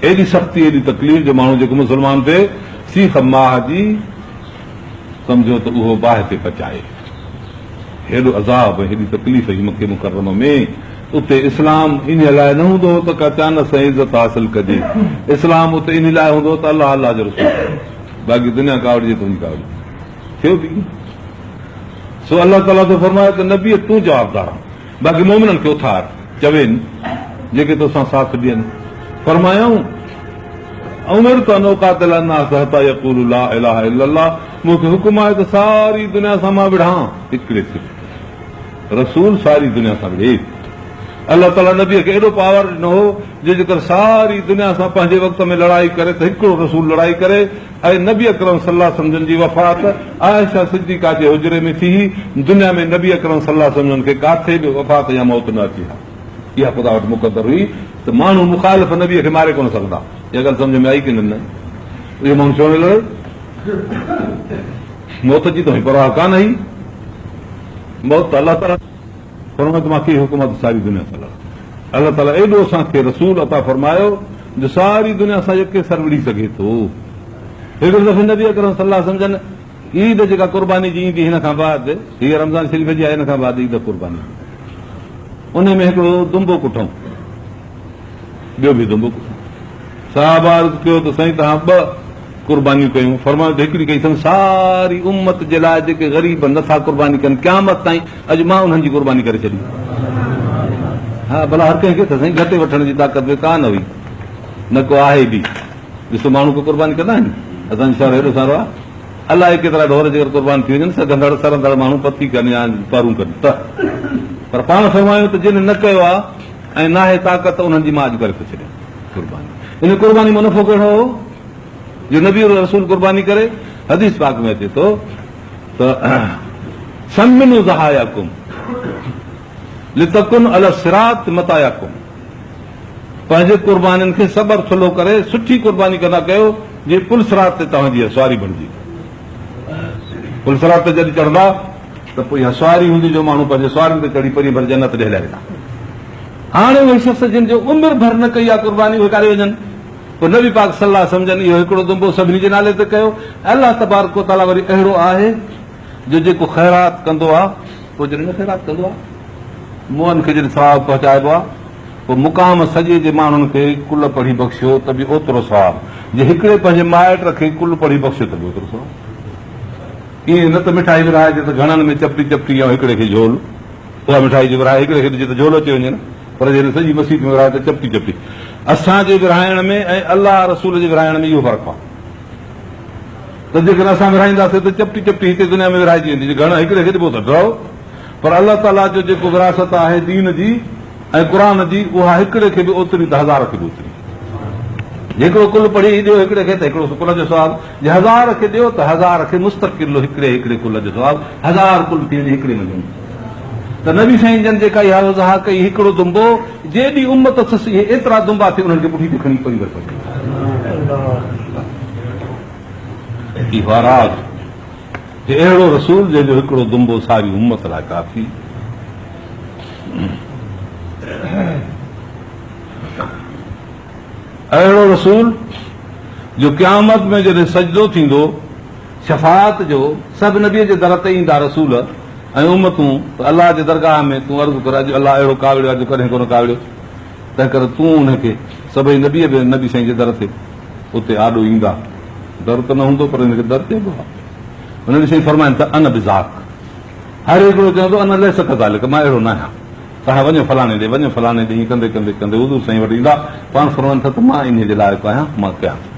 ايڏي سختي، ايڏي تڪليف جو ماڻهو جيڪو مسلمان ٿئي، سيخ ماهه جي سمجهو ته اهو باهه تي پچائي. هيڏو عذاب ۽ هيڏي تڪليف هئي مڪي مڪرمه ۾، اتي اسلام انهيء لاء نه هوندو هو ته ڪا چانس ۽ عزت حاصل ڪجي، اسلام اتي انهيء لاء هوندو هو ته الله، الله جو رسول ٺهي، باقي دنيا ڪاوڙجي تنهنجي ڪاوڙجي. ٿيو به ائين. سو الله تعاليٰ ٿو فرمائي ته نبيء تون جوابدار آهين. باقي مومنن کي اٿار، چوين، جيڪي تو سان ساٿ ڏين. فرمايائون، امرت ان اقاتل الناس حتي يقولوا لا اله الا الله، مون کي حڪم آهي ته ساري دنيا سان مان وڙهان، هڪڙي صرف رسول ساري دنيا سان وڙهي. الله تعاليٰ نبيء کي ايڏو پاور ڏنو هو، جو جيڪر ساري دنيا سان پنهنجي وقت ۾ لڙائي ڪري ته هڪڙو رسول لڙائي ڪري. ۽ نبي اڪرم صلي الله عليه وسلم جن جي وفات عائشه صديقه جي حجري ۾ ٿي هئي، دنيا ۾ نبي اڪرم صلي الله عليه وسلم جن کي ڪاٿي به وفات يا موت نه اچي ها، اها خدا وٽ مقدر هئي ته ماڻهو مخالف نبي کي ماري ڪونه سگهندا، اها ڳالهه سمجهه ۾ آئي ڪنھن نه؟ اهو ماڻهو ڇو نه لڙي؟ موت جي ته پرواهه ڪانه هئي، موت ته الله تعالي. فرمايو ته مان ڪيئي حڪومت ساري دنيا سان لڙان؟ الله تعاليٰ ايڏو اسان کي رسول عطا فرمايو جو ساري دنيا سان يڪي سر وڙهي سگهي ٿو. هڪڙي دفعي نبي اڪرم صلي الله عليه وسلم جن عيد جيڪا قرباني جي ايندي هن کان بعد هيء رمضان شريف جي آهي هن کان بعد عيد قرباني ان ۾ هڪڙو دنبو ڪٺون ٻيو به دنبو ڪٺون صحابه عرض ڪيو ته سائين توهان ٻه قربانيون ڪيون، فرمايو ته هڪڙي ڪئي اٿم ساري امت جي لاء، جيڪي غريب نه ٿا قرباني ڪن قيامت تائين، اڄ مان انهن جي قرباني ڪري ڇڏي. ها ڀلا هر ڪنهن کي ته سائين گهٽي وٺڻ جي طاقت به ڪا نه هئي، نه ڪو آهي به، ڏسو ماڻهو ڪو قرباني ڪندا آهن، اسان جو شهر هيڏو سارو آهي، الائي ڪيترا ڍور جيڪر قربان ٿي وڃن، سگهندڙ سرندڙ ماڻهو پٿي ڪن يا پرون ڪن ته، پر پاڻ فرمايو ته جن نه ڪيو آهي ۽ ناهي طاقت ته انهن جي مان اڄ ڪري ٿو ڇڏيان قرباني، ان قرباني مان نفعو ڪهڙو هو؟ جو نبي ۽ رسول قرباني ڪري، حديث پاڪ ۾ اچي ٿو ته سمنوا ضحاياڪم لتڪن علي الصراط مطاياڪم پنهنجي قربانين کي صبر ٿلهو ڪري سٺي قرباني ڪندا ڪيو جي پل صراط تي توهان جي اسواري بڻجي پل صراط تي جڏهن چڙهندا ته پوء اها سواري هوندي جو ماڻهو پنهنجي سوارين تي چڙهي پري ڀر جنت ڏيهلائي ويندا هاڻي اهي شخص جن جو عمر ڀر نه ڪئي آهي قرباني اهي ڪاڏي وڃن پوء نبي پاڪ صلي الله عليه وسلم جن اهو هڪڙو دنبو سڀني جي نالي تي ڪيو ۽ الله تبارڪ و تعاليٰ وري اهڙو آهي جو جيڪو خيرات ڪندو آهي پوء جڏهن نه خيرات ڪندو آهي موئن کي جڏهن ثواب پهچائبو آهي پوء مقام سڄي جي ماڻهن کي ڪل پڙهي بخشيو ته به اوترو ثواب جي هڪڙي پنهنجي مائٽ کي ڪل پڙهي بخشيو ته به اوترو ثواب ائين نه ته مٺائي ورهائجي ته گهڻن ۾ چپٽي چپٽي يا هڪڙي کي جھول اها مٺائي جي ورهائي هڪڙي کي ڏجي ته جھولو چيو وڃي نه پر جي هن سڄي مسيت ۾ ورهايو ته چپٽي چپٽي اسان جي ورهائڻ ۾ ۽ الله رسول جي ورهائڻ ۾ اهو فرق آهي ته جيڪڏهن اسان ورهائينداسين ته چپٽي چپٽي هتي دنيا ۾ ورهائجي ويندي جي گهڻ هڪڙي کي ڏبو ته ڊرو پر الله تعاليٰ جو جيڪو وراثت آهي دين جي ۽ قرآن جي اها هڪڙي کي به اوتري ته هزار کي به اوتري جيڪڙو ڪل پڙهي ڏيو هڪڙي کي ته هڪڙو سڪون جو سوال جي هزار کي ڏيو ته هزار کي مستقل هڪڙي هڪڙي ڪل جو ثواب هزار ڪل ٿي وڃي هڪڙي مجموعي ته نبي سائين جن جيڪا اها وضاحت ڪئي هڪڙو دنبو جيڏي امت اٿس اهي ايترا دنبا ٿي انهن کي پٺي تي کڻي پئي ورتو اهوراز هي اهڙو رسول جنهن جو هڪڙو دنبو ساري امت لاء ڪافي اهڙو رسول، جو قيامت ۾ جڏهن سجدو ٿيندو، شفاعت جو، سڀ نبيء جي در تي ايندا رسول ۽ امتون ته الله جي درگاهه ۾ تون عرض ڪر اڄ الله اهڙو ڪاوڙيو آهي جو ڪڏهن ڪونه ڪاوڙيو تنهنڪري تون انهن کي سڀئي نبي به نبي سائين جي در تي اتي آڏو ايندا در ته نه هوندو پر ان کي در چئبو آهي نبي سائين فرمائن ته انا بذاڪ هر هڪڙو چوندو انا ليس ڪذالڪ مان اهڙو نه آهيان توهان وڃو فلاڻي ڏي، وڃو فلاڻي ڏي، ائين ڪندي ڪندي ڪندي حضور سائين وٽ ايندا، پاڻ فرمائن ٿا ته مان انهيء جي لائق آهيان، مان ڪيان ٿو.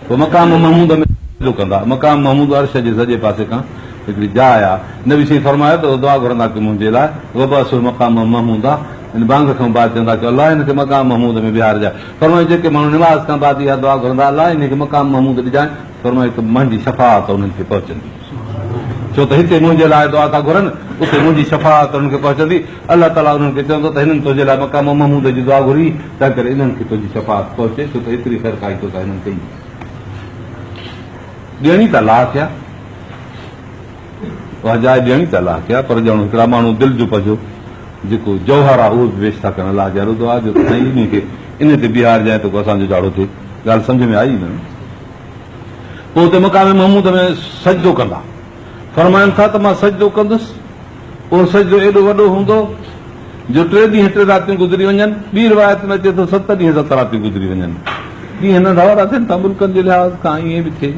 پوء مقام محمود ۾ سجدو ڪندا. مقام محمود عرش جي سڄي پاسي کان هڪڙي جاء آ. نبي سائين فرمايو ته اهو دعا گهرندا ڪه منهنجي لاء وبعثه مقاما محمودا، يعني بانگ کان بعد چوندا ڪه الله انهن کي مقام محمود ۾ ويهارجانء. فرمايو جيڪي ماڻهو نماز کان بعد اها دعا گهرندا الله انهيء کي مقام محمود ڏجانء، فرمايو ته مهنجي شفاعت انهن کي پهچندي. ڇو ته هتي منهنجي لاء دعا ٿا گهرن، اتي منهنجي شفاعت انهن کي پهچندي. الله تعاليٰ انهن کي چوندو ته هنن تنهنجي لاء مقام محمود جي دعا گهري، تنهنڪري انهن کي تنهنجي شفاعت پهچي، ڇو ته ايتري خيرخواهي تو سان هنن ڪئي. ڏيڻي ته الله کي آهي. اها جاء ڏيڻي ته الله کي آهي، پر ڄڻ هڪڙا ماڻهو دل جو پجو جيڪو جوهر آهي، اهو به پيش ٿا ڪن الله جي عرض آهي جو ته سائين انهي کي انهي تي بيهارجانء تاڪو اسان جو جاڙو ٿئي. ڳالهه سمجهه ۾ آئي نه؟ پوء اتي مقام محمود ۾ سجدو ڪندا. فرمائن ٿا ته مان سجدو ڪندس. اهو سجدو ايڏو وڏو هوندو جو ٽي ڏينهن ٽي راتيون گذري وڃن. ٻي روايت ۾ اچي ٿو ست ڏينهن ست راتيون گذري وڃن. ڏينهن ننڍا وڏا ٿين ٿا ملڪن جي لحاظ کان ائين به ٿئي.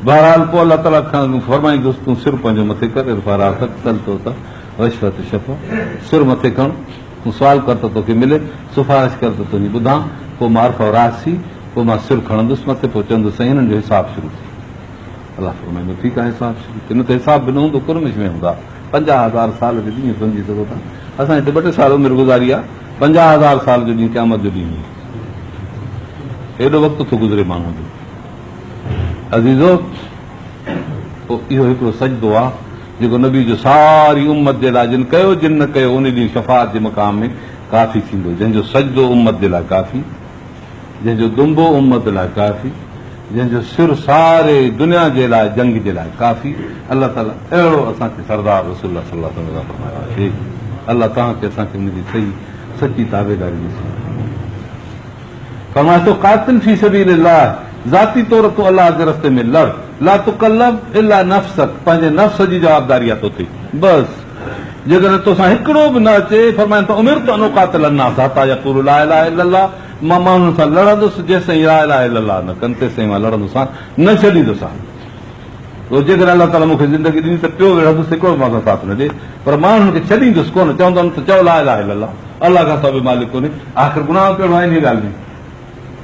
بهرحال پوء الله تعاليٰ کان فرمائيندس تون سر پنهنجو مٿي ڪر ارفع راسک سل توتئ واشفع تشفع سر مٿي کڻ. تون سوال ڪر ته توکي ملي، سفارش ڪر ته تنهنجي ٻڌان، پوء مان عرفه راس ٿي، پوء مان سر کڻندس مٿي، پوء چوندس سائين انهن جو حساب شروع ٿئي. الله فرمائيندو ٺيڪ آهي حساب شروع ٿئي، نه ته حساب به نه هوندو قرمش ۾ هوندا. پنجاهه هزار سال جو ڏينهن سمجهي سگهو ٿا، اسان هتي ٻه ٽي سال عمر گذاري آهي، پنجاهه هزار سال جو ڏينهن قيامت جو ڏينهن هوندو. ايڏو وقت ٿو گذري ماڻهوء جو عزيزو! پوء اهو هڪڙو سجدو آهي. جيڪو نبي جو ساري امت جي لاء جن ڪيو جن نه ڪيو انهي ڏينهن شفاعت جي مقام ۾ ڪافي ٿيندو جنهن جو سجدو امت جي لاء ڪافي جنهن جو دنبو امت لاء ڪافي جنهن جو سر ساري دنيا جي لاء جنگ جي لاء ڪافي الله تعالي اهڙو اسان کي سردار رسول الله صلي الله عليه وسلم فرمايو آهي الله توهان کي اسان کي ان جي صحيح سچي تابعداري نصيب فرمايو ته قاتل في سبيل الله ذاتي طور تون الله جي رستي ۾ لڙ لا تڪلف الا نفسک پنهنجي نفس جي جوابداري آهي توتي بس جيڪڏهن توسان هڪڙو به نه اچي فرمائن ته امرت ان اقاتل الناس حتي يقولوا لا اله الا الله مان ماڻهن سان لڙندس جيسين لا اله الا الله نه ڪن تيسين مان لڙندوسان نه ڇڏيندوسان پوء جيڪڏهن الله تعاليٰ مون کي زندگي ڏني ته ٽيو وڙهندس هڪڙو به مان سان ساٿ نه ڏي پر مان انهن کي ڇڏيندس ڪونه چوندم ته چئو لا اله الا الله الله کان سواء ٻيو مالڪ ڪونهي آخر گناهه ڪهڙو آهي انهيء ڳالهه ۾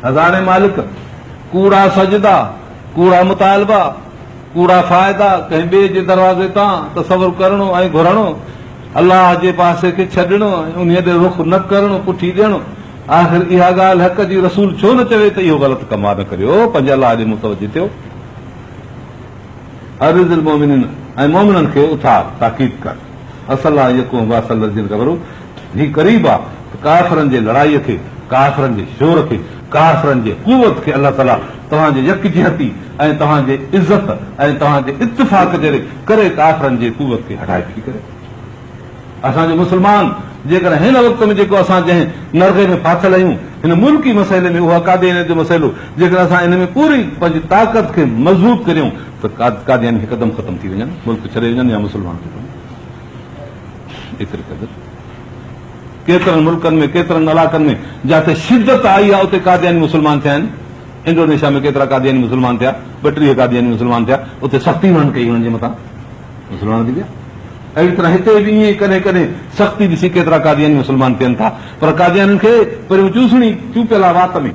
هزارين مالڪ ڪوڙا سجدا ڪوڙا مطالبا ڪوڙا فائدا ڪنهن ٻئي جي دروازي تان تصور ڪرڻو ۽ گهرڻو الله جي پاسي کي ڇڏڻو انهيء ڏي رخ نه ڪرڻو پٺي ڏيڻو آخر اها ڳالهه حق جي رسول ڇو نه چوي ته اهو غلط ڪم آهي نه ڪريو پنهنجي الله ڏي متوجه ٿيو عرض المومنين ۽ مومنن کي اٿار تاڪيد ڪر اصل آ يڪون باس الذين كفروا هي قريب آ ته ڪافرن جي لڙائي کي ڪافرن جي شور کي ڪافرن جي قوت کي الله تعالي توهان جي يڪجهتي ۽ توهان جي عزت ۽ توهان جي اتفاق جي ڪري ڪافرن جي قوت کي هٺائي ٿي ڪري اسان جو مسلمان جيڪڏهن هن وقت ۾ جيڪو اسان جنهن نرغي ۾ ڦاٿل آهيون هن ملڪي مسئلي ۾ اهو قاديانيت جو مسئلو جيڪڏهن اسان ان ۾ پوري پنهنجي طاقت کي مضبوط ڪريون ته قادياني هڪدم ختم ٿي وڃن ملڪ ڇڏي وڃن يا مسلمان ختم ايتري قدر ڪيترن ملڪن ۾ ڪيترن علاقن ۾ جتي شدت آئي آهي اتي قادياني مسلمان ٿيا آهن انڊونيشيا ۾ ڪيترا قادياني مسلمان ٿيا ٻ ٽيهه قادياني مسلمان ٿيا اتي سختي هنن ڪئي هنن جي مٿان مسلمان ٿي ويا اهڙي طرح هتي به ائين ڪڏهن ڪڏهن سختي ڏسي ڪيترا قادياني مسلمان ٿين ٿا پر قاديانين کي پريون چوسڻي چونپيل آهي وات ۾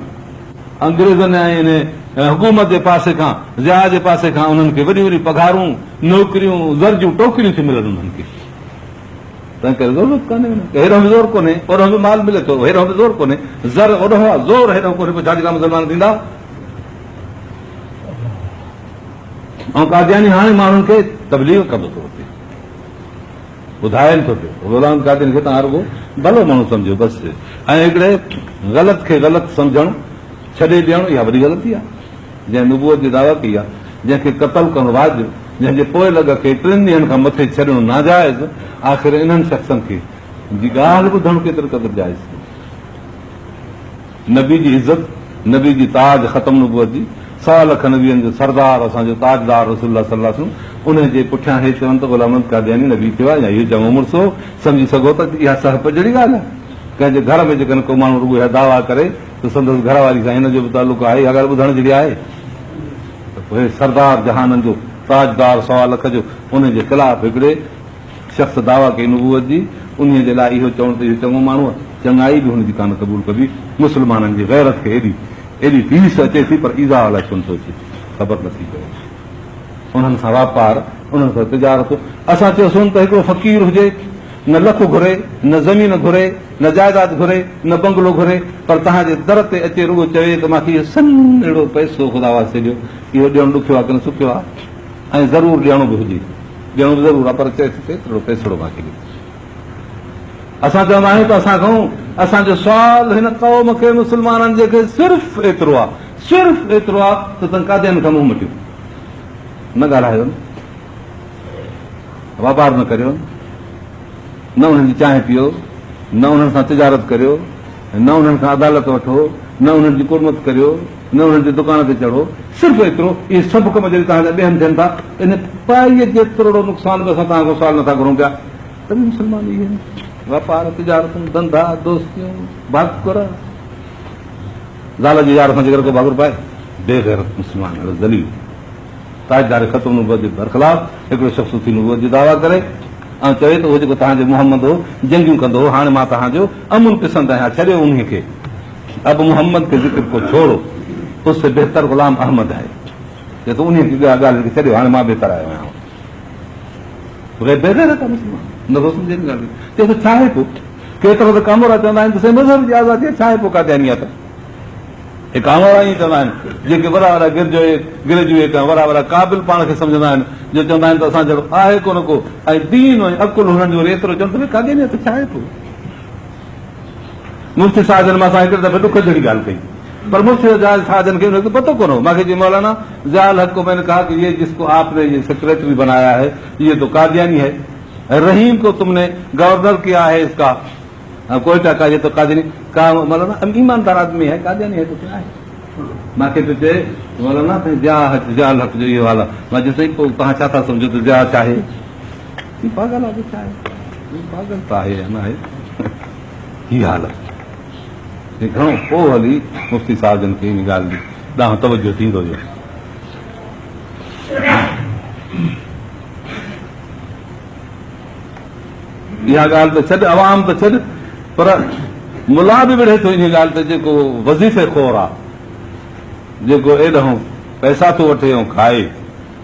انگريزن ۽ حڪومت جي پاسي کان ضياء جي پاسي کان انهن کي وڏيون وڏيون پگهارون نوڪريون زر جون ٽوڪريون ٿيون ملن انهن کي تنهن ڪري ضرورت ڪانهي هيڏو به زور ڪونهي اوڏو به مال ملي ٿو هيڏو به زور ڪونهي زر اوڏو زور هيڏو ڪونهي پوء جاجڪا مسلمان ٿيندا ۽ قادياني هاڻي ماڻهن کي تبليغ ڪندو ٿو اچي، ٻڌائين ٿو پيو. غلام القادياني کي توهان رڳو ڀلو ماڻهو سمجهو بس، ۽ هڪڙي غلط کي غلط سمجهڻ ڇڏي ڏيڻ اها وڏي غلطي آهي. جنهن نبوت جي دعويٰ ڪئي آهي، جنهن کي قتل ڪرڻ واجب، جنهن جي پوء لڳ کي ٽن ڏينهن کان مٿي ڇڏڻ ناجائز، آخر انهن شخصن کي جي ڳالهه ٻڌڻ ڪيتري قدر جائز ٿي؟ نبي جي عزت، نبي جي تاج، ختم نبوت جي سوا لک نبين جو سردار، اسان جو تاجدار رسول الله صلي الله عليه وسلم انهي جي پٺيان هي چون ته غلام محمد قادياني نبي ٿيو آهي يا اهو جهونو مڙس هو، سمجهي سگهو ٿا ته اها سهپ جهڙي ڳالهه آهي. ڪنهن جي گهر ۾ جيڪڏهن ڪو ماڻهو رڳو اها دعويٰ ڪري ته سندس گهر واري سان هن جو به تعلق آهي اها ڳالهه ٻڌڻ جهڙي آهي ته هي سردار جهانن جو تاجدار سوا لک جو انهي جي خلاف هڪڙي شخص دعويٰ ڪئي نبوت جي، انهيء جي لاء اهو چوڻ ته اهو چڱو ماڻهو آهي، چڱائي به هن جي ڪانه قبول ڪبي. مسلمانن جي غيرت کي ايڏي ايڏي ٽيس اچي ٿي، پر ايذاء الائي ڇو نه ٿو اچي، خبر نه ٿي پوي. انهن سان واپار، انهن سان تجارت. اسان چيوسون ته هڪڙو فقير هجي، نه لک گهري، نه زمين گهري، نه جائداد گهري، نه بنگلو گهري، پر توهان جي در تي اچي رڳو چوي ته مان کي اهو سنهڙو پئسو خدا واسطي ڏيو، اهو ڏيڻ ڏکيو آهي ڪنه سکيو آهي ۽ ضرور ڏيڻو به هجي. ڏيڻو به ضرور آهي پر چئي ٿو ته ايترڙو پيسڙو مان کي ڏي. اسان چوندا آهيون ته اسان کان اسان جو سوال هن قوم کي مسلمانن جي کي صرف ايترو آهي صرف ايترو آهي ته تن قاديان کان منهن مٽيو نه ڳالهايو نه واپار نه ڪريو نه انهن جي چانهه پيو نه انهن سان تجارت ڪريو نه انهن کان عدالت وٺو نه انهن جي قرمت ڪريو نه انهن جي دڪان تي چڙهو، صرف ايترو، اهي سڀ ڪم جڏهن توهان جا ٻيهن ٿين ٿا، ان پائي جيتروڙو نقصان به اسان توهان کان سوال نٿا گهرون پيا. ته به مسلمان اهي آهن. واپار، تجارتون، ڌنڌا، دوستيون، ڀاڪر. زال جي يار سان جيڪر ڪو ڀاڪر پائي، بي غيرت مسلمان اهڙو ذليل، تاجدار ختم نبوت جي برخلاف هڪڙو شخص اٿي نبوت جي دعويٰ ڪري ۽ چوي ته اهو جيڪو توهان جو محمد هو، جنگيون ڪندو هو، هاڻي مان توهان جو امن پسند آهيان، ڇڏيو انهي کي. ابو محمد کي ذڪر ڪو ڇوڙو، اس سي بهتر غلام احمد هي. چئي ٿو انهيء کي اها ڳالهه لکي ڇڏيو، هاڻي مان بهتر آيو آهيان. غير بيغيرت آهي مسلمان، نه غوث الدين جي ڳالهه ڪئي. چئي ٿو ڇا هي پوء؟ ڪيترو ته ڪامورا چوندا آهن ته سائين مذهب جي آزادي آهي، ڇا هي پوء قاديانيت؟ هي ڪامورا ائين چوندا آهن، جيڪي وڏا وڏا گرجوئي، گريجوئيٽ ۽ وڏا وڏا قابل پاڻ کي سمجهندا آهن، جو چوندا آهن ته اسان جهڙو آهي ڪونه ڪو ۽ دين ۽ عقل هنن جو وري ايترو چون ته ڀي قاديانيت ڇا هي پوء؟ مفتي صاحب جن مان اسان هڪڙي دفعي ڏک جهڙي ڳالهه ڪئي پر مفتي صاحب جن کي ان جو پتو ڪونه هو مان کي چيو مولانا ضياء الحق ڪو مين ڪها ڪي جس ڪو آپ ني جي سيڪريٽري بنايا هي جي تو قادياني هي رحيم ڪو تم ني گورنر ڪيا هي اس ڪا ڪوئيٽا ڪا جي تو قادياني ڪا مولانا ايماندار آدمي هي قادياني هي تو ڪيا هي مان کي پيو چي مولانا ضياء الحق جو اهو حال آهي مان جس تائين پو توهان ڇا ٿا سمجهو ته ضياء ڇا هي هي پاڳل آهي جو ڇا آهي؟ هي پاڳل ته آهي يا نه آهي هي حالت هي گهڻو پوء هلي مفتي صاحب جن کي ان ڳالهه جي ڏانهن توجهه ٿيندو ويو. اها ڳالهه ته ڇڏ عوام ته ڇڏ پر ملا به وڙهي ٿو ان ڳالهه ته جيڪو وظيفي خور آهي جيڪو ايڏهون پئسا ٿو وٺي ۽ کائي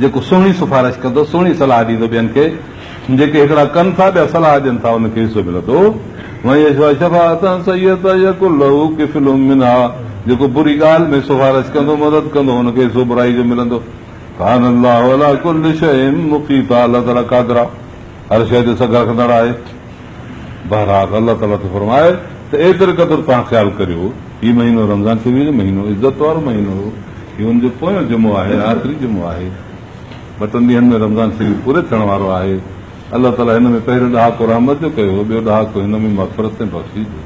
جيڪو سهڻي سفارش ڪندو، سهڻي صلاح ڏيندو ٻين کي، جيڪي هڪڙا ڪن ٿا، ٻيا صلاح ڏين ٿا، ان کي حصو ملندو. ومن يشفع شفاعة سيئة يڪن له ڪفل منها جيڪو بري ڳالهه ۾ سفارش ڪندو، مدد ڪندو، ان کي حصو برائي جو ملندو. ڪان الله عليٰ ڪل شيء مقيتا الله تعاليٰ قادر آهي، هر شيء تي سگهه رکندڙ آهي. بهرحال الله تعاليٰ ٿو فرمائي ته ايتري قدر توهان خيال ڪريو هي مهينو رمضان شريف جو مهينو عزت وارو مهينو هو هي ان جو پويون جمعو آهي آخري جمعو آهي ٻه ٽن ڏينهن ۾ رمضان شريف پوري ٿيڻ وارو آهي الله تعاليٰ هن ۾ پهريون ڏهاڪو رحمت جو ڪيو هو ٻيو ڏهاڪو هن ۾ مغفرت ۽ بخشيش جو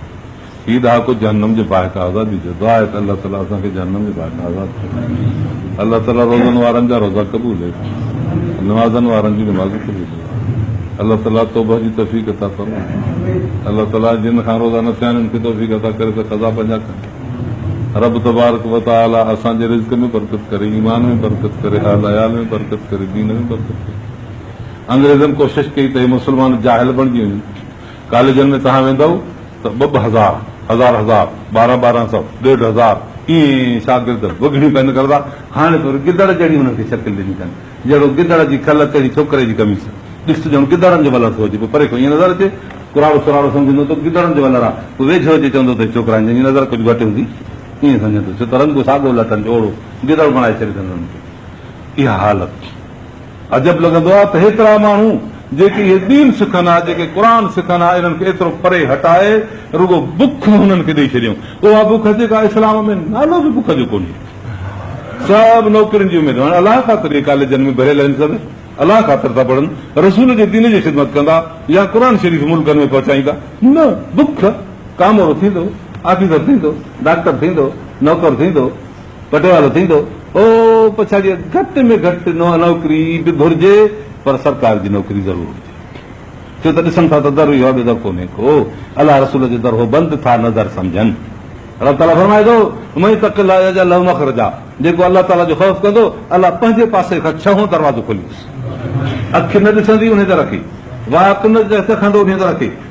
هي ڏهاڪو جهنم جي باهه کان آزادي جو دعا آهي ته الله تعالي اسان کي جهنم جي باهه کان آزاد فرمائي. الله تعالي روزن وارن جا روزا قبولي، نمازن وارن جون نمازون قبولي. الله تعالي توبه جي توفيق عطا فرمائي. الله تعالي جن کان روزا نه ٿيا آهن ان کي توفيق عطا ڪري ته قضا پنهنجا ڪن. رب تبارڪ و تعالي اسان جي رزق ۾ برڪت ڪري، ايمان ۾ برڪت ڪري، اهل عيال ۾ برڪت ڪري، دين ۾ برڪت ڪري. انگريزن ڪوشش ڪئي ته هي مسلمان جاهل بڻجي وڃن. ڪاليجن ۾ توهان ويندؤ ته ٻه ٻه هزار، هزار هزار، ٻارهن ٻارهن سؤ، ڏيڍ هزار ائين شاگرد وڳڻيون پئن ڪرندا. هاڻي تو گدڙ جهڙي انهن کي شڪل ڏني اٿن. جهڙو گدڙ جي کل تهڙي ڇوڪري جي قميص. ڏس ته ڄڻ گدڙن جو ولر ٿو اچي. پوء پري کان ائين نظر اچي، ڪراڙو سراڙو سمجهندو ته گدڙن جو ولر آ. پوء ويجهو اچي چوندو ته هي ڇوڪرا آهن جن جي نظر ڪجهه گهٽ هوندي. ائين سمجهندو. ڇو ته رنگ ساڳو لٽن جو اوڙو گدڙ بڻائي ڇڏي اٿن انهن کي. اها حالت. عجب لڳندو آهي ته هيترا ماڻهو جيڪي اهي دين سکن ها، جيڪي قرآن سکن ها، انهن کي ايترو پري هٽائي رڳو بک هنن کي ڏئي ڇڏيائون. اها بک جيڪا اسلام ۾ نالو به بک جو ڪونهي. سڀ نوڪرين جي اميد هڻ الله خاطر اهي ڪاليجن ۾ ڀريل آهن سڀ الله خاطر ٿا پڙهن، رسول جي دين جي خدمت ڪندا يا قرآن شريف ملڪن ۾ پهچائيندا نه بک ڪامورو ٿيندو، آفيسر ٿيندو، ڊاڪٽر ٿيندو، نوڪر ٿيندو. پٽوالو ٿيندو او پڇاڙيء گهٽ ۾ گهٽ نوڪري به گهرجي پر سرڪار جي نوڪري ضرور هجي ڇو ته ڏسن ٿا ته در اهو آهي ٻيو در ڪونهي ڪو الله رسول جو در هو بند ٿا نظر سمجهن الله تعاليٰ فرمائي ٿو مئي تڪ الله يجعل له مخرجا جيڪو الله تعاليٰ جو خوف ڪندو الله پنهنجي پاسي کان ڇهون دروازو کوليس اک نه ڏسندي ان در کي وات نه کندو ان در کي